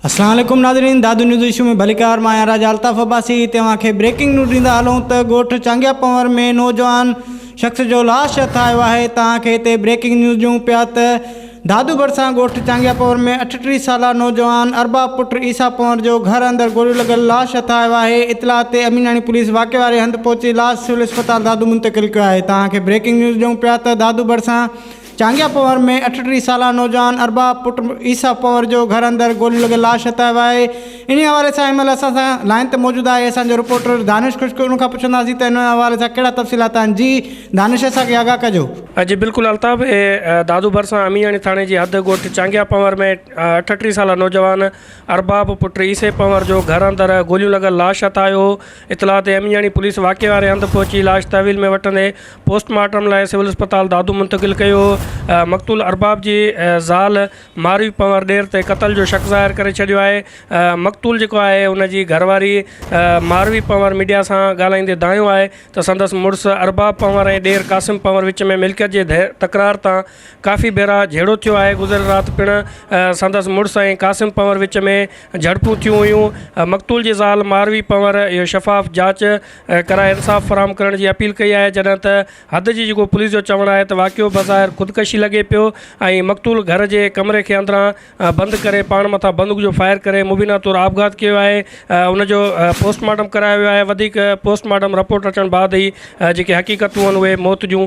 اسلام عليڪم ناظرين دادو نيوز ايشو ۾ ڀليڪار مان آهيان راجا الطاف عباسي توهان کي بريڪنگ نيوز ڏيندا هلون ته ڳوٺ چانگيا پنور ۾ نوجوان شخص جو لاش هٿ آيو آهي توهان کي هتي بريڪنگ نيوز ڏيون پيا ته دادو ڀرسان ڳوٺ چانگيا پنور ۾ اٺٽيهه سالا نوجوان ارباب پٽ عيسيٰ پنور جو گهر اندر گوليون لڳل لاش هٿ آيو آهي اطلاع تي اميناڻي پوليس واقعي واري هنڌ پهچي لاش سول اسپتال دادو منتقل ڪيو آهي توهان کي بريڪنگ نيوز ڏيون پيا ته دادو ڀرسان چانگيا پوهر ۾ اٺٽيهه سالا نوجوان ارباب پٽ عيسيٰ پوهر جو گهر اندر گوليون لڳل لاش هتايو آهي انهي حوالي سان هن مهل اسان سان لائين تي موجود آهي اسان جو رپورٽر دانش خشڪ ان کان پڇنداسين ته انهي حوالي سان ڪهڙا تفصيلات آهن جي دانش اسان کي آگاهه ڪجو. جي بلڪل الطاف اهي دادو ڀرسان امياڻي ٿاڻي جي حد ڳوٺ چانگيا پنور ۾ اٺٽيهه سالا نوجوان ارباب پٽ عيسي پنور جو گهر اندر گوليون لڳل لاش هتايو هو اطلاع تي امياڻي پوليس واقعي واري هنڌ پهچي لاش تحويل ۾ وٺندي پوسٽ مارٽم لاء سول اسپتال دادو منتقل ڪيو. مقتول ارباب جي زال ماروي پنور ڏير تي قتل جو شڪ ظاهر ڪري ڇڏيو آهي. مقتول جيڪو آهي ان جي گهرواري ماروي پنور ميڊيا سان ڳالهائيندي دانهيو آهي ته سندس مڙس ارباب پنور ۽ ڏير قاسم پنور وچ ۾ ملڪيت جي تڪرار تان ڪافي ڀيرا جهيڙو ٿيو آهي گذريل رات پڻ سندس مڙس ۽ قاسم پنور وچ ۾ جهڙپون ٿيون هيون مقتول جي زال ماروي پنور اهو شفاف جاچ ڪرائي انصاف فراهم ڪرڻ جي اپيل ڪئي آهي جڏهن ته حد جي جيڪو پوليس جو چوڻ آهي ته واقعو بظاهر خودڪشي لڳي پيو ۽ مقتول گهر جي ڪمري کي اندران بند ڪري پاڻ مٿان بندوق جو فائر ڪري مبينا طور آپگهات ڪيو آهي ان جو پوسٽ مارٽم ڪرايو ويو آهي وڌيڪ پوسٽ مارٽم رپورٽ اچڻ بعد ئي جيڪي حقيقتون آهن اهي موت جون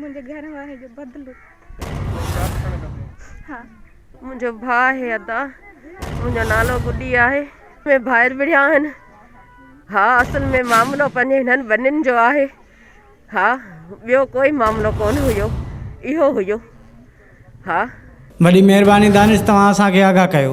منهنجي گهر واري جو بدلو. ها منهنجو ڀاء آهي ادا منهنجو نالو گڏي آهي. ۾ ڀائر وڙهيا آهن. ها اصل ۾ معاملو پنهنجي هنن ٻنين جو آهي. ها ٻيو ڪوئي معاملو ڪون هيو اهو هيو. ها. وڏي مهرباني دانش توهان اسان کي آگاهه ڪيو.